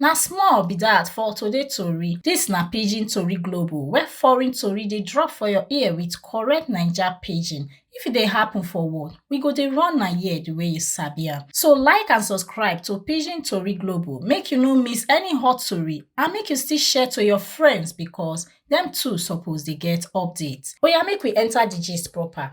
Na small be dat for today tori, dis na pidgin tori global where foreign tori dey drop for your ear with correct naija pidgin. If e dey happen for world, we go dey run am here the way you sabi am. So like and subscribe to pidgin tori global make you no miss any hot tori and make you still share to your friends because dem too suppose dey get update. Oya make we enter the gist proper.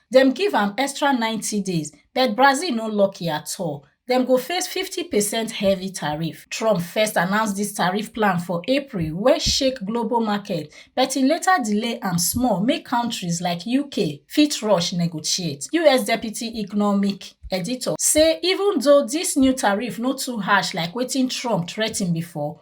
dem give am extra 90 days but brazil no lucky at all dem go face 50 percent heavy tariff trump first announce dis tariff plan for april wey shake global markets but e later delay am small make kontris like uk fit rush negotiate us deputy economic editor say even though dis new tariff no too harsh like wetin trump threaten before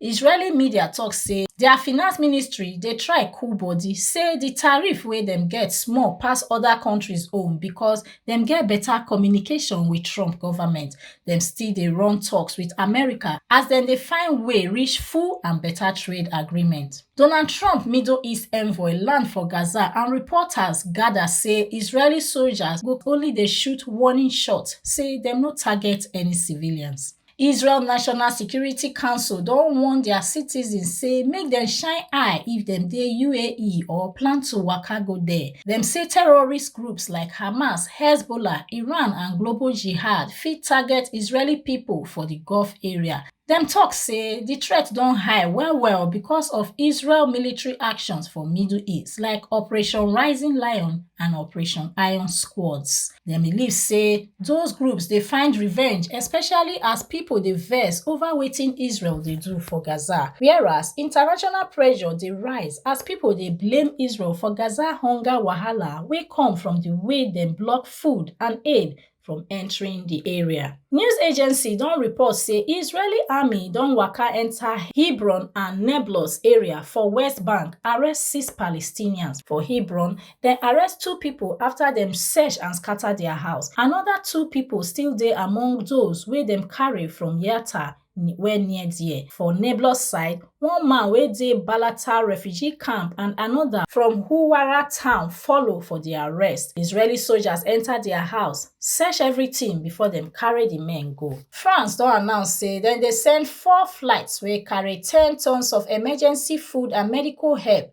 Israeli media tok say dia finance ministry dey try cool bodi say di tariff wey dem get small pass oda kontris own becos dem get beta communication wit Trump goment. Dem still dey run toks wit America as dem dey find way reach full and beta trade agreement. Donald Trump Middle East envoy land for Gaza and reporters gada say Israeli soldiers go only dey shoot warning shots say dem no target any civilians. Israel National Security Council don warn dia citizens say make dem shine eye if dem dey UAE or plan to waka go there. Dem say terrorist groups like Hamas, Hezbollah, Iran and Global Jihad fit target Israeli pipo for di Gulf area. Dem tok say di threat don high well-well because of Israel military actions for Middle East like Operation Rising Lion and Operation Iron Squads. dem believe say those groups dey find revenge especially as pipo dey vex over wetin israel dey do for gaza whereas international pressure dey rise as pipo dey blame israel for gaza hunger wahala wey come from di way dem block food and aid from entering di area. News agency don report say Israeli army don waka enter Hebron and Nablus area for West Bank, arrest six Palestinians for Hebron, Dem arrest two pipo afta dem search and scata dia house. Anoda two pipo still dey among those wey dem carry from Yatta wey near there. For Nablus side, one man wey dey Balata refugee camp and anoda from Huwara town follow for di arrest. Israeli soldiers enta dia house, search everytin before dem carry di men go. France don announce say dem dey send four flights wey carry ten tonnes of emergency food and medical help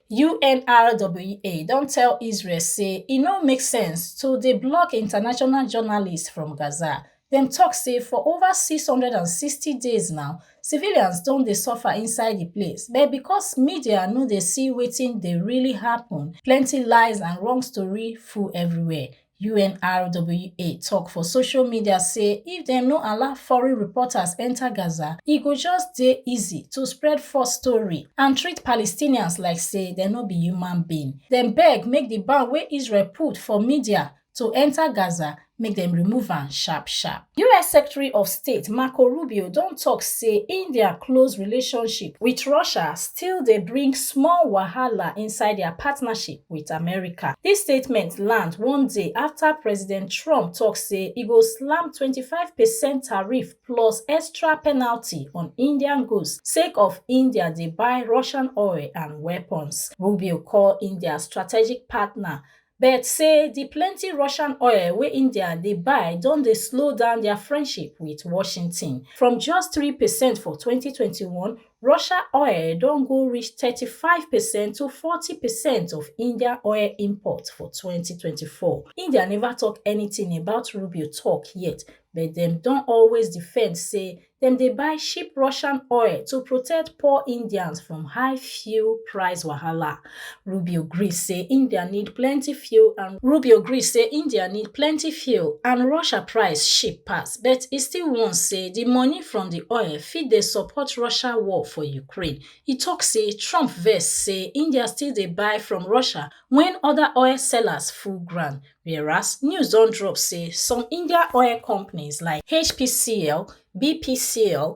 UNRWA don tell Israel say e no make sense to dey block international journalists from Gaza. Dem talk say for over 660 days now, civilians don dey suffer inside the place, but because media no dey see wetin dey really happen, plenty lies and wrong story full everywhere. unrwa tok for social media say if dem no allow foreign reporters enta gaza e go just dey easy to spread false story and treat palestinians like say dem no be human being dem beg make di ban wey israel put for media to enta gaza make dem remove am sharp sharp us secretary of state marco rubio don tok say india close relationship wit russia still dey bring small wahala inside dia partnership wit america dis statement land one day afta president trump tok say e go slam 25 percent tariff plus extra penalty on indian goods sake of india dey buy russian oil and weapons rubio call india strategic partner but say di plenty russian oil wey india dey buy don dey slow down dia friendship wit washington from just three percent for 2021 Russia oil don go reach 35 percent to 40 percent of India oil import for 2024. India never talk anything about Rubio talk yet, but dem don always defend say dem dey buy cheap Russian oil to protect poor Indians from high fuel price wahala. rubio gree say india need plenty fuel and rubio gree say india need plenty fuel and russia price cheap pass but e still warn say di money from di oil fit dey support russia war for ukraine e tok say trump vex say india still dey buy from russia wen oda oil sellers full ground whereas news don drop say some india oil companies like hpcl bpcl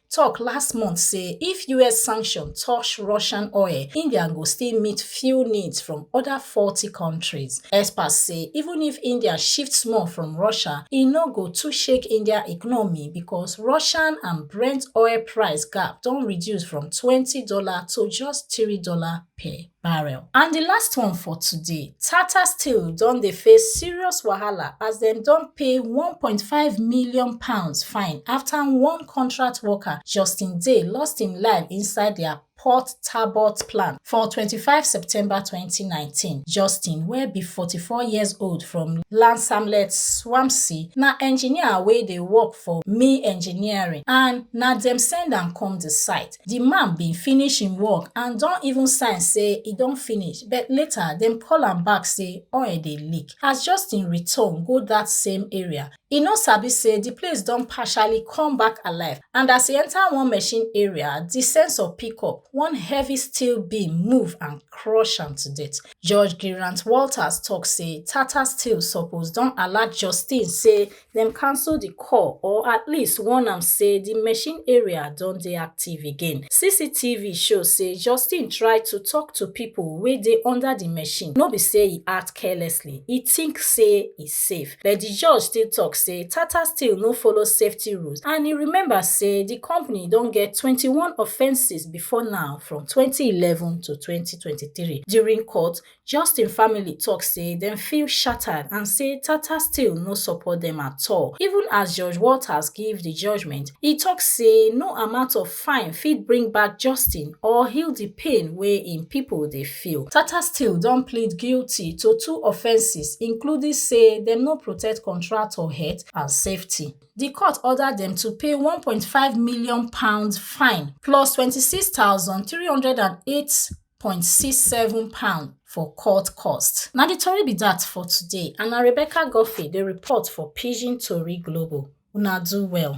tok last month say if us sanction touch russian oil india go still meet few needs from oda forty kontris experts say even if india shift small from russia e no go too shake india economy because russian and brent oil price gap don reduce from twenty dollar to just three dollar per barrel. And di last one for today, Tata Steel don dey face serious wahala as dem don pay 1.5 million pounds fine after one contract worker, Justin Day, lost im life inside dia Port Talbot plant for 25 September 2019. Justin, wey be 44 years old from Lansamlet, Swampsea, na engineer wey dey work for Mi Engineering and na dem send am come di site. di man bin finish im work and don even sign say e don finish but later dem call am back say oil dey leak as justin return go dat same area e no sabi say di place don partially come back alive and as e enter one machine area di sensor pick up one heavy steel beam move and crush am to death judge gerant walters tok say tata steel suppose don alert justin say dem cancel di call or at least warn am say di machine area don dey active again. CCTV show say Justin try to tok to pipo wey dey under di machine, no be say e act carelessly, e tink say e safe. But di judge still tok say Tata Steel no follow safety rules and e remember say di company don get twenty one offences before now from twenty eleven to twenty twenty three. During court, Justin family tok say dem feel shattered and say Tata Steel no support dem at all. Even as Judge Walters give di judgement, e tok say no amount of fine fit bring back Justin or heal di pain wey im pipo dey feel. Tata Steel don plead guilty to two offences including say dem no protect contractor health and safety. Di court order dem to pay one point five million pounds fine plus twenty six thousand three hundred and eight £1.67 for court costs. Now the tori be that for today and na Rebecca Guffey the report for Pidgin Tori Global. Una do well.